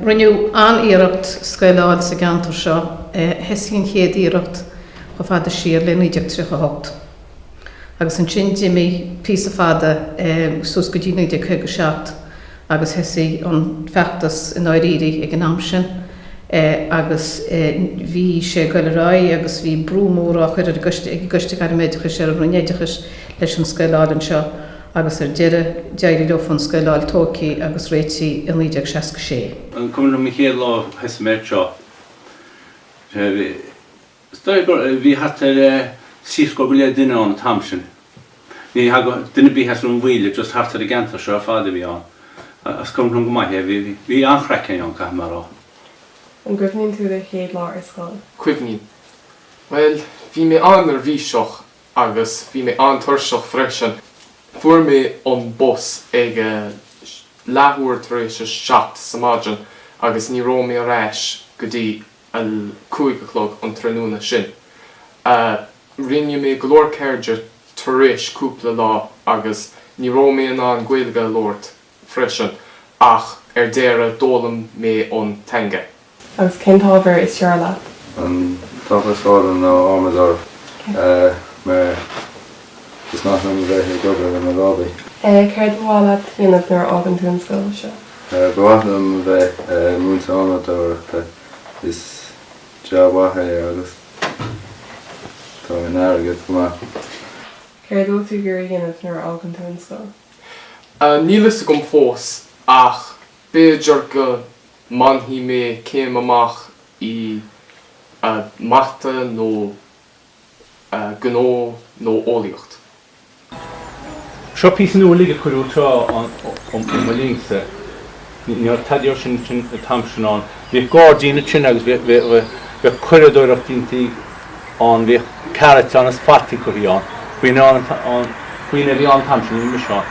Rinneadh an-iarracht scoil a fháil sa gceantar seo. Thosaigh an chéad iarracht chomh fada siar le 1938 agus ansin d'imigh píosa fada suas go dtí 1957 agus thosaigh an feachtas i ndáiríre ag an am sin agus bhí sé ag dul ar aghaidh agus bhí brú mór á chur ag an gCoiste Gairme Oideachais ar an Roinn Oideachais leis an scoil a fháil anseo. agus ar deireadh d'éirigh leo foirm scoile a fháil tógtha agus réitithe i 1966. An cuimhin leat an chéad lá a chaith tú anseo? Sea, bhí, is dóigh gur, bhí thart ar trí scór go leith duine ann an t-am sin. Ní thagadh duine ar bith as Rinn Mhaoile, just thart ar an gceantar seo ar fad a bhí ann. Is cuimhin liom go maith é, bhí, bhí an-chraic ann, caithfidh mé a rá. An gcuimhníonn tú do chéad lá ar scoil? Cuimhním. Bhuel, bhí mé an-neirbhíseach agus bhí mé an-tuirseach freisin. Fuair mé an bus ag a leathuair tar éis a seacht sa maidin agus ní raibh mé ar ais go dtí a cúig a chlog an tráthnóna sin. Rinne mé go leor cairde tar éis cúpla lá agus ní raibh mé in ann Gaeilge a labhairt freisin, ach ar deireadh d'fhoghlaim mé an teanga. Agus cén t-ábhar is fearr leat? An t-ábhar is fearr liom ná adhmadóireacht mar is maith liom a bheith ag obair le mo lámhaí. Céard ba mhaith leat a dhéanamh nuair a fhágann tú an scoil seo? Ba mhaith liom a bheith i mo mhúinteoir adhmadóireachta. Is jab mhaith é agus tá an t-airgead go maith. Céard atá tú ag iarraidh a dhéanamh nuair a fhágann tú an scoil? Níl a fhios agam fós ach b'fhéidir go mbainfidh mé céim amach i mata nó gnó nó eolaíocht. Seo píosa nua uilig a cuireadh leis ó mo linnse. Ní raibh tada dhe sin an t-am sin ann. Bhíodh gairdín ansin agus bhíodh cuireadoireacht déanta ann. Bhíodh carrots ann is fataí curthaí ann. Faoi, faoi mar a bhí ann an t-am sin, a raibh mise ann.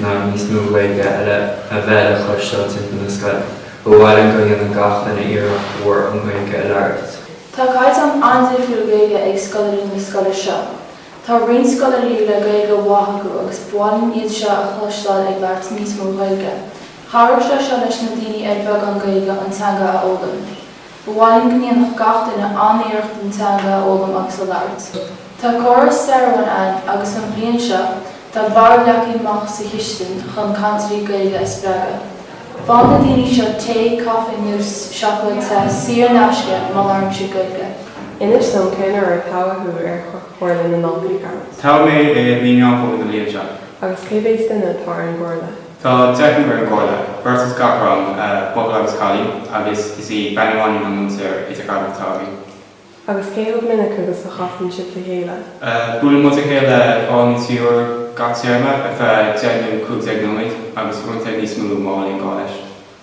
ná níos mó Gaeilge a bheith le cloisteáil timpeall na scoile. Ba mhaith linn go ndéanfadh gach duine iarracht mhór an Ghaeilge a labhairt. Tá caighdeán an-difriúil Gaeilge ag scoláirí na scoile seo. Tá roinnt scoláirí le Gaeilge mhaith acu agus ba mhaith linn iad seo a chloisteáil ag labhairt níos mó Gaeilge. Chabhródh sé seo leis na daoine ar bheagán Gaeilge an teanga a fhoghlaim. Ba mhaith linn go ndéanfadh gach duine an-iarracht an teanga a fhoghlaim agus a labhairt. Tá córas stairiúil ann agus an bhliain seo tá barr le cur amach sa chistin chun cainteoirí Gaeilge a spreagadh. Faigheann na daoine seo tae, caife nó seacláid te saor in aisce má labhraíonn siad Gaeilge. Inis dom cén uair a toghadh tú ar Chomhairle na nDaltaí. Toghadh mé i mí Meán Fómhair na bliana seo. Agus cé mhéid duine atá ar an gComhairle? Tá deichniúr ar an gComhairle, beirt as gach rang, buachaill agus cailín, agus is í bean amháin an múinteoir idirghabhála atá againn. Agus cé chomh minic agus a chasann sibh le chéile? Buaileann muid le chéile dhá nó trí uair gach téarma ar feadh deich nó cúig déag nóiméad, agus uaireanta níos mó má bhíonn gá leis.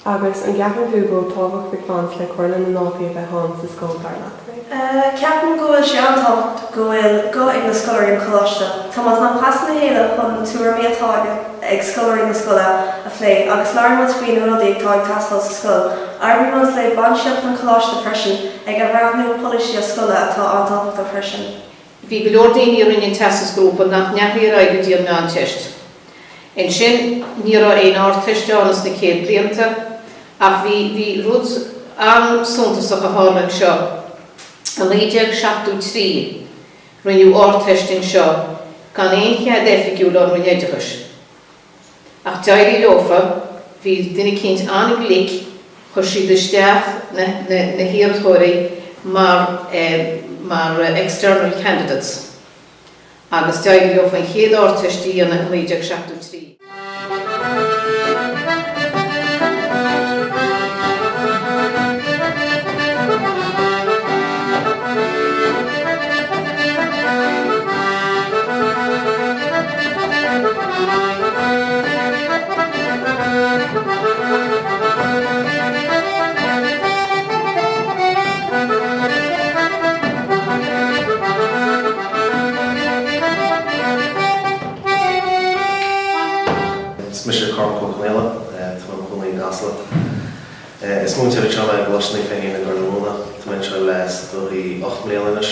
Agus an gceapann tú go bhfuil tábhacht ag baint le Comhairle na nDaltaí a bheith ann sa scoil, dar leat? Ceapaim go bhfuil sé an-tábhachtach go bhfuil guth ag scoláirí an choláiste. Tagann muid le chéile chun na tuairimí atá ag scoláirí na scoile a phlé agus labhrann muid faoi na rudaí atá ag teastáil sa scoil. Oibríonn muid le bainistíocht an choláiste freisin ag athbhreathnú polasaithe scoile atá an-tábhachtach freisin. Bhí go leor daoine a rinne an Teastas Grúpa nach ndeachaigh ar aghaidh go dtí an Meánteist. Ansin, ní raibh aon Ardteist ann sna céad blianta ach bhí, bhí rud an-suntasach a tharla anseo. I 1973 rinneadh Ardteist anseo gan aon chead oifigiúil ón Roinn Oideachais. Ach d'éirigh leofa, bhí duine eicínt an-glic, chuir siad isteach na hiarrthóirí mar eh, mar eh, external candidates agus d'éirigh leofa an chéad Ardteist a dhéanamh i 1973. Is mise Cormac Ó Conaola. Tá mé i mo chónaí i gCasla. Is múinteoir anseo mé i gColáiste Naomh Feichín i gCorr na Móna. Tá mé anseo le is dóigh ocht mbliana anois.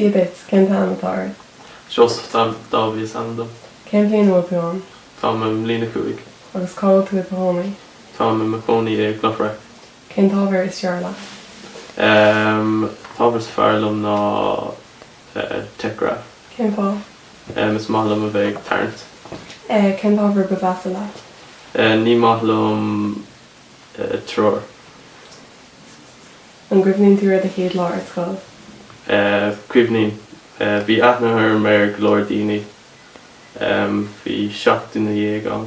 So, a Bits, cén t-ainm atá ort? Seosamh Dáibhí is ainm dom. Cén bhliain a bhfuil tú ann? Táim i mbliain a cúig. Agus cá bhfuil tú i do chónaí? Táim i mo chónaí i gCloch Bhreac. Cén t-ábhar is fearr leat? An t-ábhar is fearr liom ná. Tech Graph. Cén fáth? Is maith liom a bheith ag tarraingt. Cén t-ábhar ba mheasa leat? Ní maith liom treoir. An gcuimhníonn tú ar do chéad lá ar scoil? Cuimhním. Bhí aithne orm ar go leor daoine. Bhí seacht nduine déag ann.